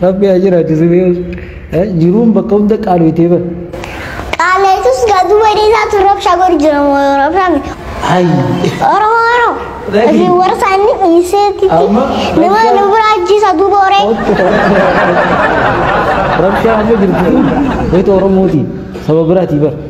Rabbi haa jiraatu siree jiruun bakka hunda qaaloytee bara. Qaaleetus gaduu badee isaatu rabshaa godhu jira moo yoo rabshaame. Oromoo yeroo isin warra isaanii dhiiseetti nama nu bira ajjeesa duuba horee. Rabshaa amma jirtu kun wayita Oromooti saba biraatii bara.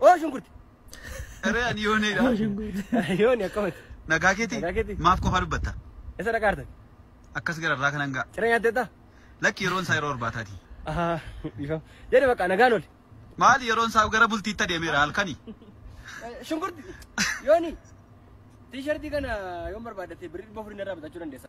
Oo shunkurti. Eree ani yoonee dha. Yooni akkamati. Nagaa keeti? Nagaa keeti? Maaf qofaa dubbatta? Isa dhaqaa artan. Akkas gara irraa kanan ga'a. Cira nyaattee taa? Lakki yeroon isaa yeroo irbaataati. Ahaa dhiifama. Jedhe bakka nagaan oli. Maali yeroon isaa gara bultiitti adeemeera halkani. Shunkurti. Yooni. Tiishartii kana yoon barbaaddatte birrii dhibba afurii narraa bitachuu dandeessa.